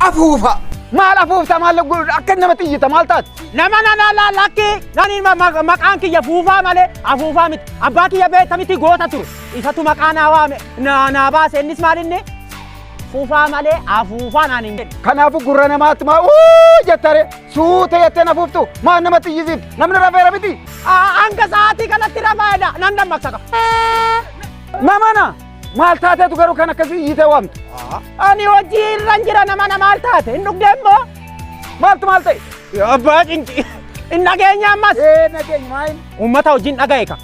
Afuufa. Maal afuufta maal godhu akka nama xiyyita maal taate? Nama nana laal akki nani ma- ma- maqaan kiyya fuufaa malee afuufaa miti. Abbaa kiyya beekta miti goota ture. Isatu maqaa naa waame naa naa baase innis maal inni? Fuufaa malee afuufaa naan hin jedhu. Kanaafuu gurra namaatti maa uu jettare suutee jettee na fuuftu maal nama xiyyisiif namni rafeera miti. Ah, Hanga sa'aatii kanatti rafaa'edha nan dammaqsa qaba. Mamana. Maal taateetu garuu kan akkasii iyyitee waamtu? Ani hojii irra hin jira nama na maal taate hin dhugdee immoo maaltu maal ta'e? Abbaa cinci. Hin dhageenye ammas. Ee nageenya maayin. Uummata hojiin dhaga'e ka.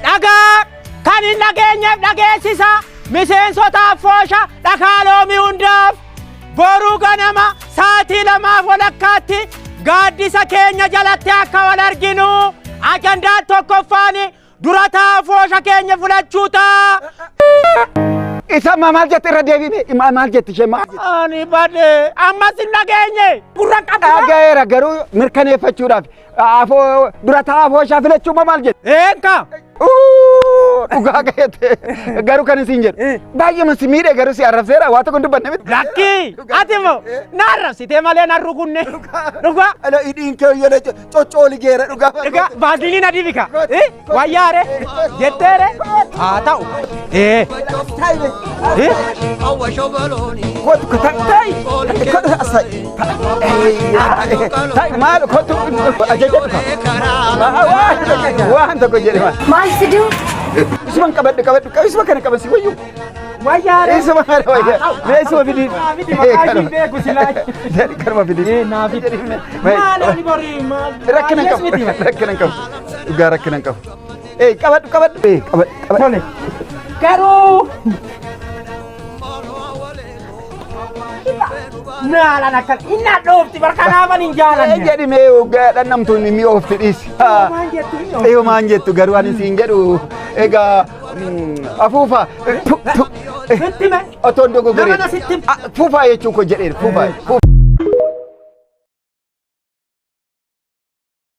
Dhagaa kan hin dhageenyeef dhageessisa. Miseensotaaf foosha dhakaaloomi hundaaf. Boruu ganama sa'aatii lamaaf walakkaatti gaaddisa keenya jalatti akka wal arginu ajandaan tokkoffaan dura taa'aa foosha keenya filachuu ta'a. Isa ammaa maal jette irra deebiine immaa maal jette ishee maal jette? Ani badee ammas hin dhageenye. Gurra qabda. Dhagayeera garuu mirkaneeffachuudhaaf Afoo dura taa'aa afoo ishaa filachuu ma maal jedhe? Eenka! Uu, Dhugaa ga'eete. Garuu kan isin jedhu. Baay'eema si miidhe garuu si arrabseera waa tokko hin dubbanne miti. Lakkii! Ati immoo na arrabsitee malee na rukunne. Dhugaa! Ala hidhiin kee hoyyana coccooli geera dhugaa. Dhugaa! Vaaziliin adii bika. Wayyaare jetteere haa ta'u. Ee. Ee. Maal kottu ajaja waan tokko jedhama. Maal fiduu? Isuman qabadhu qabadhu isuma kana qaban si wayyu. Wayyaare. Isuma kana wayya. Mee isuma fidii. Kanuma fidii. Maal ani borii maal. Rakkina hin qabu. Rakkina hin qabu. Dhugaa rakkina hin qabu. Ee qabadhu qabadhu. Ee qabadhu qabadhu. Tole. Garuu. Naalan akkan inni hadhoofti barkanaafan hin Ee jaalanne. jedhi mee hoggaa dhannamtu mimmi of fidhiisi. Maal jettu inni of- Ee maan jettu garuu ani siin jedhu egaa mm, afuufa eh, tu- tu- eh, Sitti me. otoo hin dogogorin. Nama na sitti- Ah, Fuufaa jechuu koo jedheera fuufaa. fuufaa.